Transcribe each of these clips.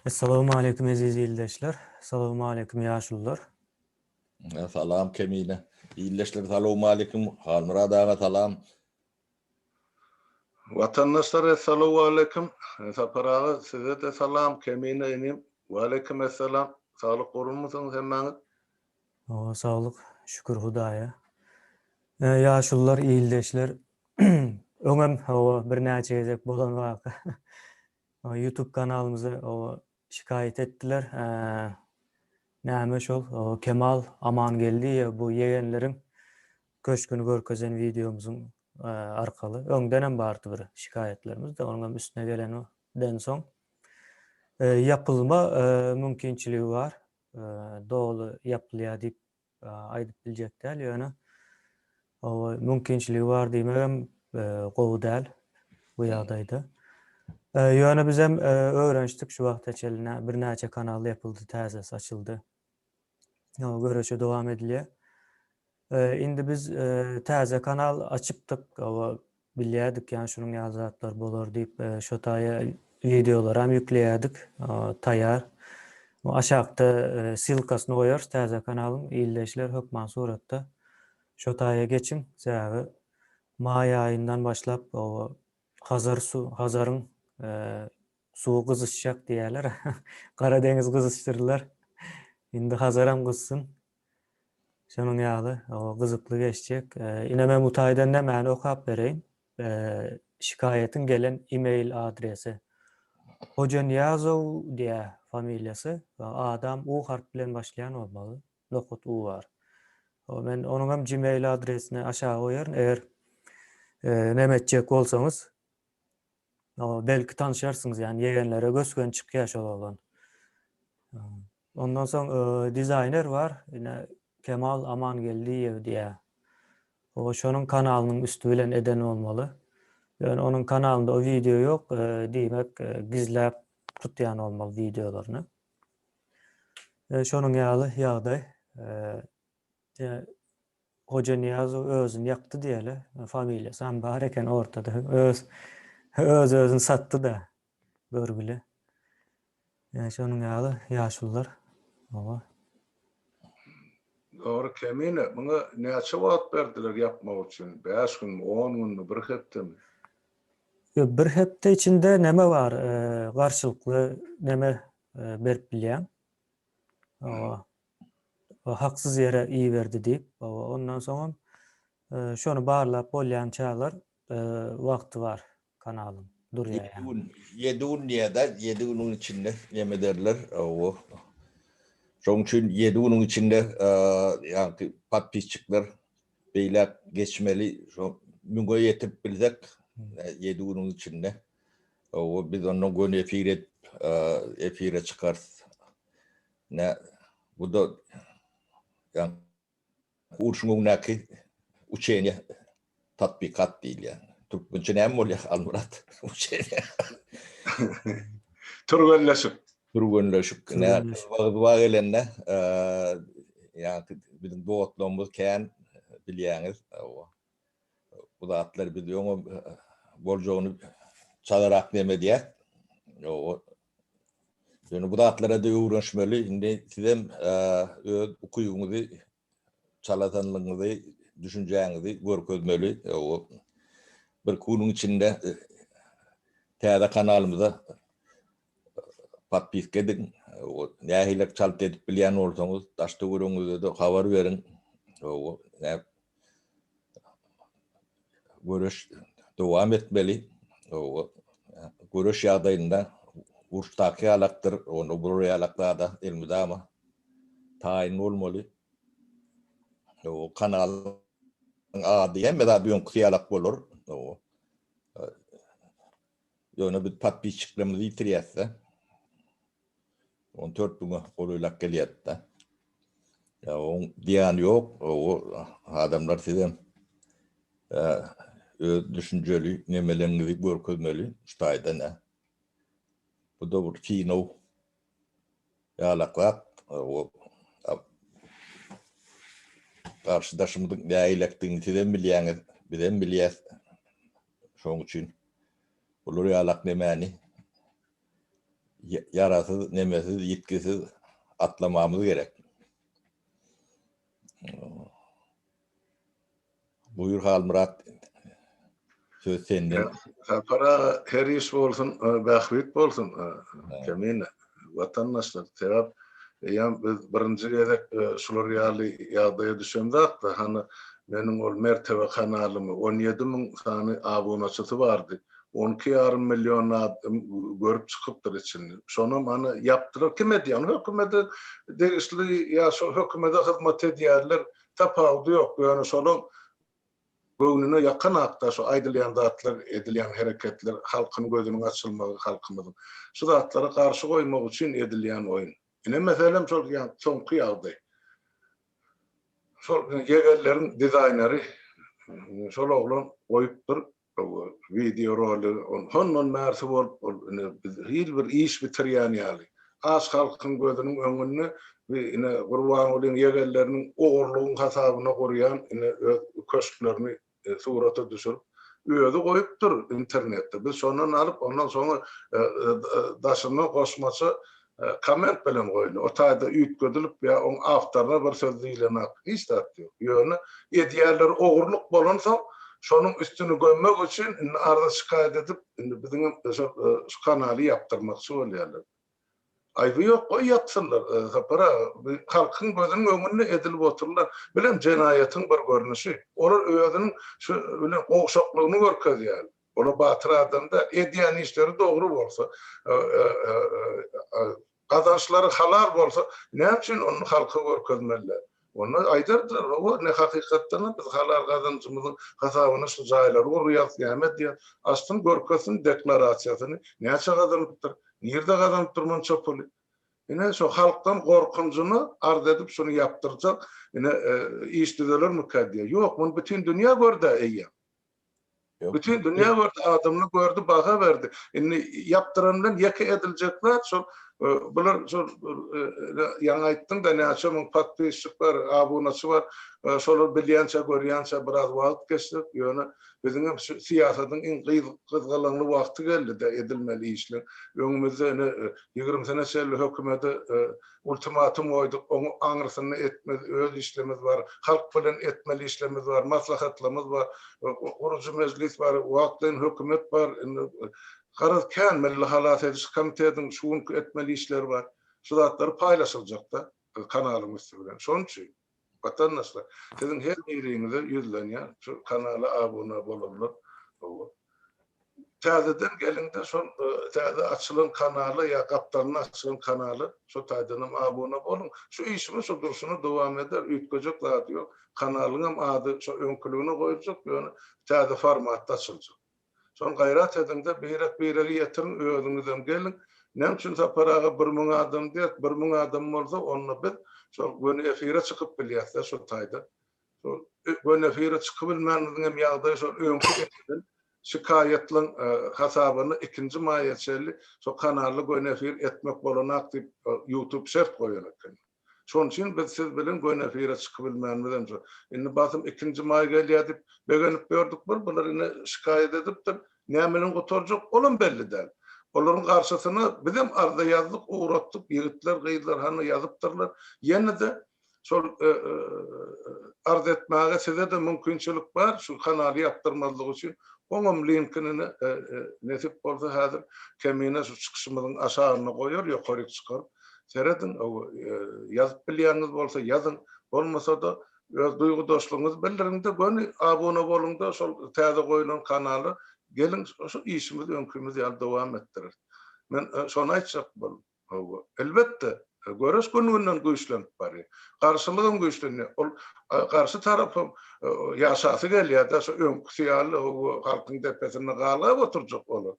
Essalamu aleýkum eziz ildeşler. Salamu aleýkum ýaşulylar. Salam Kemine. Ildeşler salamu aleýkum. Halmyrad aga salam. Watandaşlar essalamu aleýkum. Sapar aga size-de salam. Kemine inim. Waleýkim essalam. Saglyk gurulmysyňyz hemmäňiz. Oba saglyk şükür hudaýa. Ýaşulylar ildeşler öňem oba birnäçe gezek bolan waka. Youtube kanalymyza oba şikaýat etdiler. Näme şol Kemal Amangeldiýew bu ýegenleriň köşgüni görkezen wideomyzyň arkaly. Öňdenem bardy bir şikaýatlarymyz da onuňam üstüne gelenden soň ýapylma mümkinçiligi bar. doly ýapylýar diýip aýdyp biljek däl, ýöne oba mümkinçiligi bar diýmegem gowy däl bu ýagdaýda. Ýöne bizem öwrenişdik şu wagta çenli birnäçe kanal ýapyldy, täzesi açyldy. Ýa göreşe dowam edilýär. Indi biz täze kanal açypdyk, oba Bilýärdik ýan şunuň ýaly zatlar bolar diýip şo taýa wideolaram ýükleýärdik taýar aşakda ssylkasyny goýarys täze kanalyň ildeşler hökman suratda şo taýa geçiň sebäbi maý aýyndan başlap oba hazar su hazaryň suwy gyzyşjak diýýärler gara deňiz gyzyşdyrdylar indi hazaram gyzsyn Şonuň ýaly, gyzykly geçjek. Ine men bu taýdan nämäni okap bereýin. Şikaýatyň gelen e-mail adresi. Hojanyýazow diýýär familiýasy. Adam U harp bilen başlaýan bolmaly. Nohut U bar. Men onuňam gmail adresini aşaga goýaryn. Eger näme etjek bolsaňyz, O, belki tanyşarsyňyz, ýagny ýegenlere gös-göni çykýar şol oglan. Ondan soň dizaýner bar, ine Kemal Amangeldiýew diýýär. O, şonuň kanalynyň üsti bilen eden bolmaly. Ýöne onuň kanalynda o wideo ýok, diýmek, gizläp tutýan bolmaly wideolaryny. Şonuň ýaly ýagdaý. Ýa Hojanyýazow özüni ýakdy diýeli. Familiýasam bar eken ortada. Öz öz özüni satdy-da görgüli. Ýa şonuň ýaly ýaşulylar. Oba. Dogry Kemine, muňa näçe wagt berdiler ýapmak üçin? Bäş günmi, on günmi, bir hepdemi? Ýok, bir hepde içinde neme bar, garşylykly neme berip bilýäň. Oba. O haksyz ýere iberdi diýip, hawa, ondan soňam şony barlap bolýançalar wagty bar kanalyň, durýar ýaňy. Ýedi gün, ýedi gün diýýä-dä, ýedi günüň içinde näme ederler, hawa. Şoň üçin ýedi günüň içinde ýaňky podpisçikler beýläk geçmeli, şo müňe ýetip bilsek, ýedi günüň içinde, hawa, biz onnoň göni efir edip, efire çykarys. Nä, bu-da ýaňky urşuň öňündäki uçeniýe, tatbikat diýilýän. Türkmençe näme bolýar, Almyrat, uçeniýe? Türgenleşik. Türgenleşik. Nä, yzba-yzba gelende, ýaňky biziň dostlugymyz kän, bilýäňiz. Hawa. Bu zatlar biz öňe boljagyny çalarak nem edýär. Ýoga Ýöne bu zatlara da öwrenişmeli. Indi sizem öz ukybyňyzy, çaladanlygyňyzy, düşünjäňizi görkezmeli. Ýoga bir günüň içinde täze kanalymyza Podpiska ediň. Nähili çalt edip bilýän bolsaňyz, daş-töweregiňizde-de habar beriň. Göreş dowam etmeli. Göreş ýagdaýynda uruşdaky ýalakdyr, onda bu ýalak zada elmydama taýyn bolmaly. Kanalyň ady hemme zat öňküsi ýalak bolar. Ýöne biz podpisçiklerimizi ýitirýäs-de. On dört müňe golaýlap gelýärdi-de. Ýa oň diýýäni ýok, o adamlar sizem öz düşünjeli nemeleriňizi görkezmeli şu taýdan-a. Bu-da bir kino. Ýalaklap, garşydaşymyzyň nägilekdigini sizem bilýäňiz, bizem bilýäs. Şonuň üçin bular ýalak nemäni ýarasyz, nemesiz, ýitgisiz atlamamyz gerek. Buýur Halmyrat söz sende. Sapar aga her iş bolsun bähbit bolsun Kemine watandaşlar sebäp eýýäm biz birinji gezek şular ýaly ýagdaýa düşemzakda hany meniň ol Mertebe kanalymy on ýedi müň sany abunaçysy bardy on iki ýarym million adam görüp çykypdyr içini şonam hany ýapdylar kim edýär ony hökümede degişli ýa şol hökümede hyzmat edýärler Tapawudy ýok, ýöne şolaň göwnüne ýakan akda şu aýdylýan zatlar, edilýän hereketler, halkyň gözüniň açylmagy, halkymyzyň. Şu zatlara garşy goýmak üçin edilýän oýun. Ine meselem şol ýan soňky ýagdaý. Şol ýegerleriň dizaýneri şol oglan goýupdyr, Gowy wideo rolik ol hondan bärsi bolup ol ine biz hil bir iş bitirýän ýaly. Aç halkyň gözüniň öňünde bi ine Gurbangulyň ýegenleriniň ogurlygyň hasabyna gurýan ine öz köşklerini surata düşürip özi goýupdyr internetde biz şondan alyp ondan soňa daşyna goşmaça Komment bilen goýly, o taýda üýtgedilip ýa oň awtoryna bir söz diýilenak hiç zat ýok. Ýöne edýärler ogurlyk bolansoň şonuň üstüni gömmek üçin indi arza şikaýat edip indi biziňem şu kanaly ýapdyrmakçy bolýarlar. Aýby ýok goý ýapsynlar Sapar aga bu halkyň gözüniň öňünde edilip oturylan bilem jenaýatyň bir görnüşi. Olar özüniň şu bilen gowşaklygyny görkezýärler. Ol-a batyr adam-da. Edýän işleri dogry bolsa, gazançlary halal bolsa, näme üçin ony halka görkezmeliler? Onda aýdardylar, Hawa, ne hakykatdan-a biz halal gazanjymyzyň hasabyna şu jaýlary gurýarys, näme edýäris. Açsyn, görkezsin deklarasiýasyny, näçe gazanypdyr, nirde gazanypdyr munça puly. Ine, şo halkdan gorkunjyna arz edip şuny ýapdyrjak, ine, iş düzelermikä diýýär. Ýok, muny bütin dünýä gördi-ä eýýäm. Bütin dünýä gördi, adamlar gördi, baha berdi. Indi ýapdyran bilen ýeke ediljek zat şol, e, bular şol e, e, ýaňy aýtdyň-da näçe müň podpisçik bar, abunaçy bar. Şolar bilýänçä, görýänçä biraz wagt geçdi. Ýöne biziň hem şu syýasatyň iň gyzgalaňly wagty geldi-de edilmeli işler. Öňümizde ine ýigrimi sene çenli hökümete Ultimatum goýduk, oňa aňrysyny etmez, öz işlemiz bar, halk bilen etmeli işlemiz bar, maslahatlarymyz bar, gurujy mejlis bar, wagtlaýyn hökümet bar, indi garaz kän milli halas ediş komitetiň şu günki etmeli işleri bar, şu zatlar paýlaşyljak-da kanalymyz bilen, şonuň üçin. Watandaşlar siziň her biriňize ýüzlenýän şu kanala abuna bolanlar howwa täzeden geliňde şol täze açylan kanala ýa gapdalynda açylan kanala şo taýdanam abuna boluň şu işimiz şu durşuna dowam eder üýtgejek zady ýok kanalyňam ady şo öňküligine goýuljak ýöne täze formatda açyljak. Soň gaýrat ediňde birek biregi ýetiriň özüňizem geliň näme üçin Sapar aga bir müň adam diýer bir müň adam bolsa onda biz şol göni efire çykyp bilýäsdä şol taýdan şol göni efire çykybilmänimiziňem ýagdaýy şol öňki edilen şikaýatlaň hasabyna ikinji maýa çenli şo kanalda göni efir etmek bolanak diýip ýutub şert goýan eken. Şonuň üçin biz siz bilen göni efire çykybilmänimiz hem şo. Indi basym ikinji maý gelýär diýip begenip ýördük bir, bular ine şikaýat edipdir. Näme bilen gutarjak, olam belli däl. Olaryň garşysyna bizem arza ýazdyk, ugratdyk, ýigitler, gyzlar hany ýazypdyrlar. Ýene-de şol arz etmäge size-de mümkinçilik bar, şu kanaly ýapdyrmazlyk üçin. Oňam linkini ine nesip bolsa häzir Kemine şu çykyşymyzyň aşagyna goýar, ýokaryk çykaryp. Serediň, ýazyp bilýäňiz bolsa ýazyň, bolmasa-da öz duýgudaşlygyňyzy bildiriň-de, göni abuna boluň-da şol täze goýlan kanala, geliň şu işimizi öňkimiz ýaly dowam etdireris. Men şony aýtjak boldum. Hawa, elbetde, göreş gün-günden güýçlenip barýar. Garşylyk hem güýçlenýär. Ol garşy tarap hem ýaşasy gelýär-de, şu öňküsi ýaly halkyň depesinde galgap oturjak olar.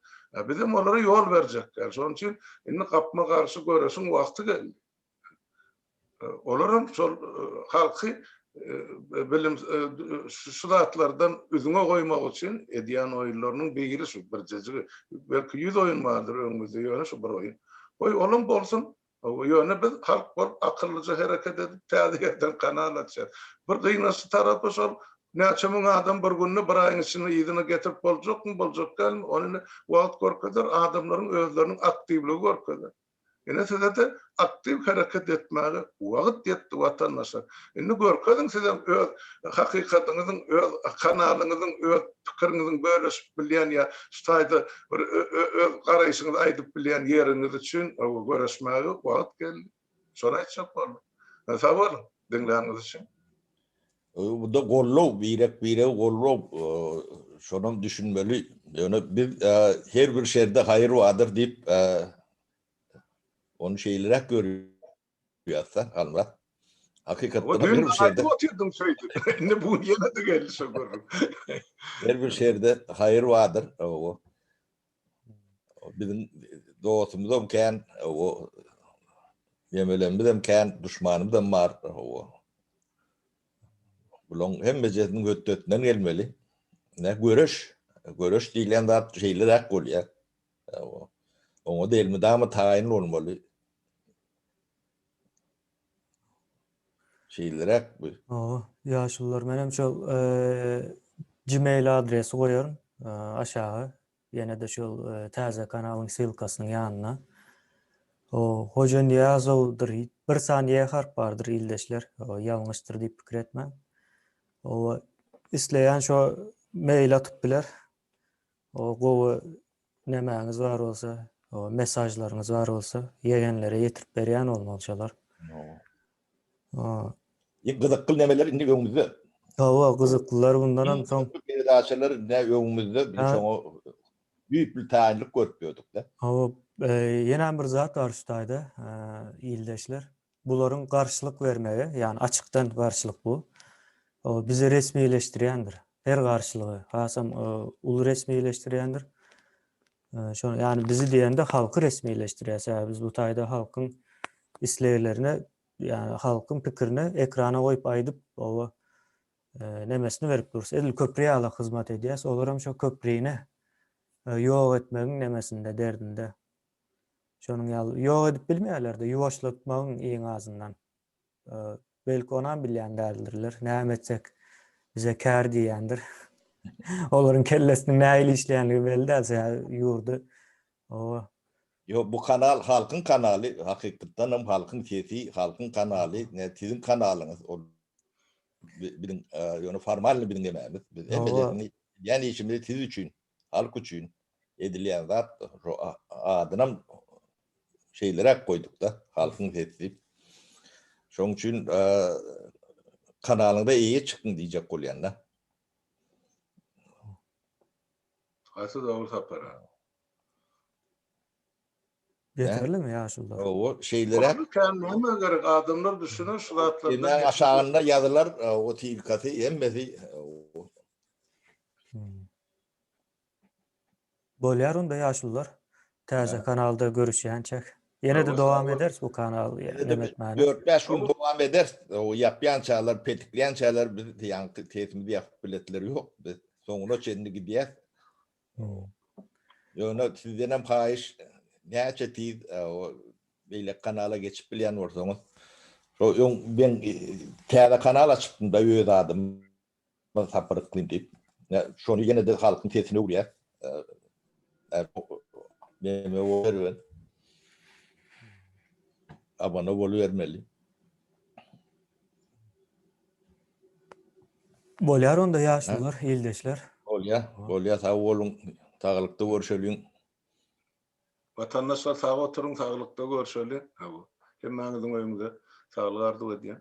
Bizem olara ýol berjek däl. Şonuň üçin Indi gapma-garşy göreşiň wagty geldi. Olar hem şol halky bilim şu zatlardan üzňe goýmak üçin edýän oýunlarynyň biri şu birjejigi. Belki ýüz oýun bardyr öňümizde, ýöne şu bir oýun. Goý, olam bolsun. Ýöne biz halk bolup akyllyja hereket edip täze ýerden kanal açýarys. Bir gynaçly tarapy şol Näçe müň adam bir günde, bir aýyň içinde yzyna getirip boljakmy, boljak dälmi, ony indi wagt görkezer, adamlaryň özleriniň aktiwligi görkezer. Ine size-de aktiw hereket etmäge wagt ýetdi watandaşlar. Indi görkeziň sizem öz hakykatyňyzyň, öz kanalyňyzyň, öz pikiriňiziň bölüşip bilýän ýa şu taýda bir ö-ö öz garaýşyňyzy aýdyp bilýän ýeriňiz üçin, hawa göreşmäge wagt geldi. Şony aýtjak boldum. Sag boluň, diňläniňiz üçin. Bu-da gollow, birek-biregi gollow, şonam düşünmeli. Ýöne biz her bir şerde haýyr bardyr diýip, ony şeýleräk görýäs-de, Halmyrat. Hakykatdanam her bir şerde. Düýn-de aýdyp otyrdyň şeýdip. Indi bu gün ýene-de geldi şo gürrüň. Her bir şerde haýyr bardyr. Hawa. Biziň dostumyzam kän, o ýemelenimizem kän, duşmanymyzam bar. Bularyň hemmejesiniň hötdesinden gelmeli. Ne göreş, göreş diýlen zat şeýle zat bolýar. Oňa da elmydama taýyn bolmaly. Şeýleräk bu. Hawa, ýaşulylar menem şol gmail adresi goýaryn aşaga. Ýene-de şol täze kanalyň ssylkasynyň ýanyna. O Hojanyýazowdyr. Bir san ýe harp bardyr ildeşler. O ýalňyşdyr diýip pikir etmäň. O isleýän şo mail atyp biler. O gowy Nämäňiz bar bolsa, o mesajlaryňyz bar bolsa, ýegenlere ýetirip berýän bolmaly şolar. Ooo. Iň gyzykly nämeler indi öňümizde. Hawa, gyzyklylar bundanam soň. Peredaçalar indi öňümizde, biz şoňa düýpli taýynlyk görüp ýördük-de. Hawa, ýenäm bir zat bar şu taýda, ildeşler. Bularyň garşylyk bermegi, ýagny açykdan garşylyk bu, bizi resmileşdirýändir. Her garşylygy, hasam uly resmileşdirýändir. Şony, ýagny bizi diýende halky resmileşdirýär. Sebäbi biz bu taýda halkyň isleglerine, ýagny halkyň pikirine ekrana goýup aýdyp, oba nemesini berip durus. Edil köpri ýaly hyzmat edýäs. Olar hem şo köprini ýok etmegiň nemesinde, derdinde. Şonuň ýaly ýok edip bilmeýärler-de, ýuwaşlatmagyň iň azyndan. Belki onam bilýän däldirler. Näme etsek bize kär diýýändir. Olaryň kellesiniň nähili işleýänligi belli däl, sebäbi ýurdy oba. Ýok, bu kanal halkyň kanaly, hakykatdan hem halkyň sesi, halkyň kanaly, ne siziň kanalyňyz, ol biziň ýöne formalny biziň ememiz. Biz hemmeleriňi, ýän işimizi siz üçin Halk üçin edilýän zat şu adynam şeýleräk goýduk-da, halkyň sesi diýip. Şonuň üçin kanalyňda eýe çykyň diýjek bolýan-da. Haýsy dowul sapara? Ýeterlimi ýaşulda? Hawa, şeýleräk. Kän näme gerek, adamlar düşüner şu zatlardan. Aşagynda ýazylar, o tilkasy hemmesi Bolýar onda ýaşulylar. Täze kanalda görüşýänçäk. Ýene-de dowam ederis bu kanaly näme etmäne. Dört bäş gün dowam ederis. O ýapýançalar, petiklýänçäler biz ýaňky sesimizi ýapyp biletler ýok. Biz soňuna çenli gidýäs. Ýöne sizdenem haýyş näçe tiz beýleki kanala geçip bilýän bolsaňyz. Şo öň men täze kanal açypdym-da öz adyma. Biz tapar yklym diýip. Şony ýene-de halkyň sesine öwürýär. Abone bolubermeli. Bolýar onda ýaşulylar, ildeşler. Bolýar, bolýar. Sag boluň. Saglykda görşeliň. Watandaşlar sag oturyň, saglykda görşeli. Hawa. Hemmäňiziň öýüňize saglyk arzuw edýän.